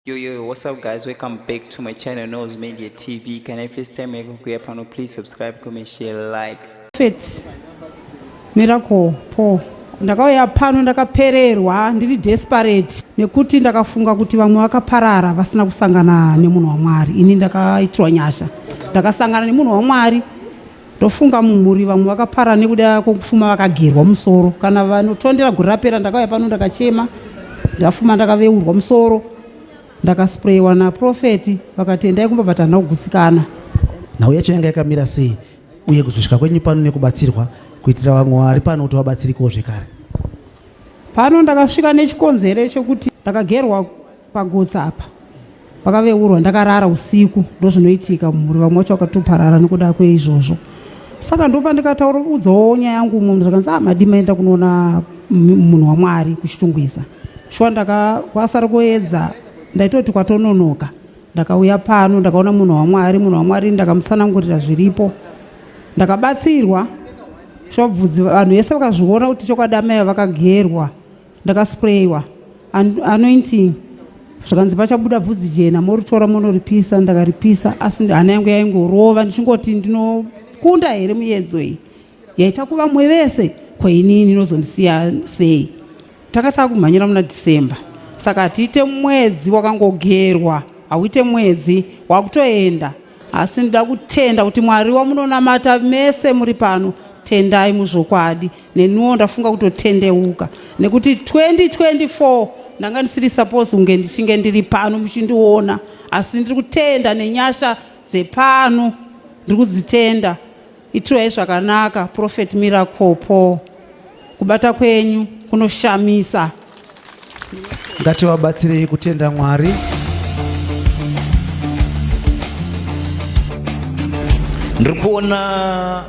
Yo yo yo, what's up guys? Welcome back to my channel Nose Media TV. Can I first time make kuya pano please subscribe, comment, share, like. Fit. Miracle po. Ndakauya pano ndakapererwa ndiri desperate nekuti ndakafunga kuti vamwe vakaparara vasina kusangana nemunhu waMwari. Ini ndakaitirwa nyasha. Ndakasangana nemunhu waMwari. Ndofunga mumhuri vamwe vakapara nekuda kwekufuma vakagerwa musoro kana vanotondera gore rapera ndakauya pano ndakachema ndafuma ndakaveurwa musoro ndakasprayiwa naprofeti vakati endai kumba but handina kugusikana nhau yacho yanga yakamira sei uye kuzosvika kwenyu pano nekubatsirwa kuitira vamwe vari pano kuti vabatsirikewo zvekare pano ndakasvika nechikonzero chekuti ndakagerwa Pagutsa apa vakaveurwa ndakarara usiku ndozvinoitika mumhuri vamwe vacho vakatoparara nekuda kweizvozvo saka ndopa ndikataura udzawo nyaya yangu munhu zvakanzi ah madii maenda kunoona munhu wamwari kuchitungwiza shuwa ndakakwasara kuedza ndaitoti kwatononoka ndakauya pano ndakaona munhu wamwari munhu wamwari ndakamusanangurira zviripo ndakabatsirwa shuwa bvudzi vanhu vese vakazviona kuti chokwadi amai vakagerwa ndakasprayiwa anointing zvikanzi pachabuda bvudzi jena moritora monoripisa ndakaripisa asi hana yangu yaingorova ndichingoti ndinokunda here muyedzo iyi yaita kuva mwe vese kwainini inozondisiya sei tanga takumhanyira muna december saka hatiite mwedzi wakangogerwa hauite mwedzi wakutoenda asi ndinoda kutenda kuti mwari wamunonamata mese muri pano tendai muzvokwadi neniwo ndafunga kutotendeuka nekuti 2024 ndanga ndisiri suppose kunge ndichinge ndiri pano muchindiona asi ndiri kutenda nenyasha dzepano ndiri kudzitenda Itirai zvakanaka Prophet Miracle Paul. Kubata kwenyu kunoshamisa. Ngativabatsirei kutenda Mwari. Ndiri kuona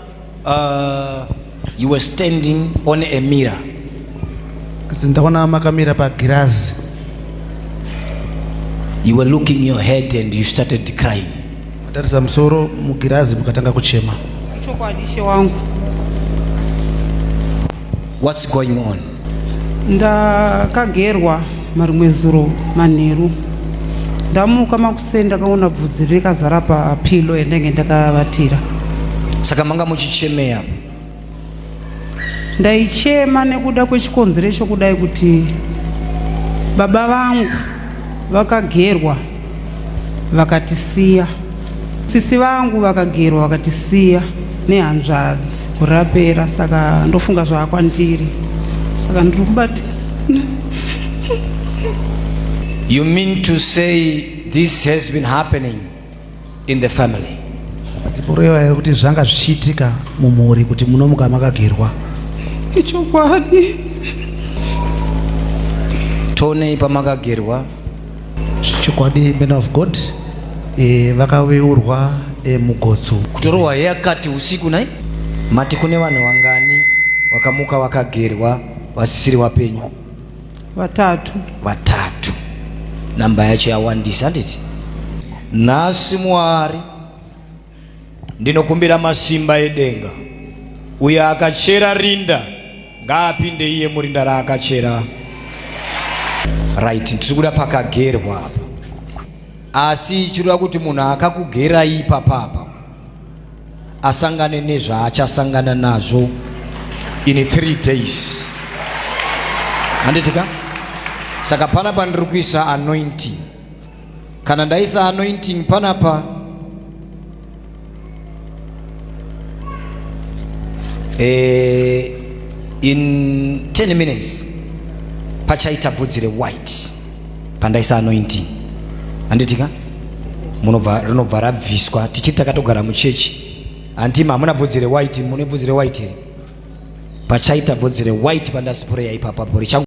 uh, you were standing on a mirror. Ndaona makamira pagirazi. You were looking your head and you started crying. Matarisa musoro mugirazi mukatanga kuchema. Ichokwadi ishe wangu. What's going on? Ndakagerwa marimwe zuro manheru. Ndamuka makuseni ndakaona bvudzi rikazara pa pillow yandenge ndakavatira. Saka manga muchichemea? Ndaichema nekuda kwechikonzero chokudai kuti baba vangu vakagerwa vakatisiya, sisi vangu vakagerwa vakatisiya nehanzvadzi gore rapera, saka ndofunga zvava kwandiri, saka ndiri kubati You mean to say this has been happening? in the family dziporeva here kuti zvanga zvichiitika mumhuri kuti munomuka makagerwa ichokwadi tonei pamakagerwa chokwadi man of god e, vakaveurwa e, mugotso kutorohwa yakati usiku nai mati kune vanhu vangani vakamuka vakagerwa vasisiri wapenyu vatatu vatatu namba yacho yawandisa handiti nhasi mwari ndinokumbira masimba edenga uyo akachera rinda ngaapinde iye murinda raakachera right tiri kuda pakagerwa apa asi chireva kuti munhu akakugerai ipapapa asangane nezvaachasangana nazvo in three days handitika saka panapa ndiri kuisa anointing kana ndaisa anointing panapa eh, in 10 minutes pachaita bvudzi rewhite pandaisa anointing handiti ka munobva rinobva rabviswa tichiti takatogara muchechi hanti hamuna bvudzi rewhite mune bvudzi rewhite here pachaita bvudzi rewhite pandasipureya ipapa bhori changu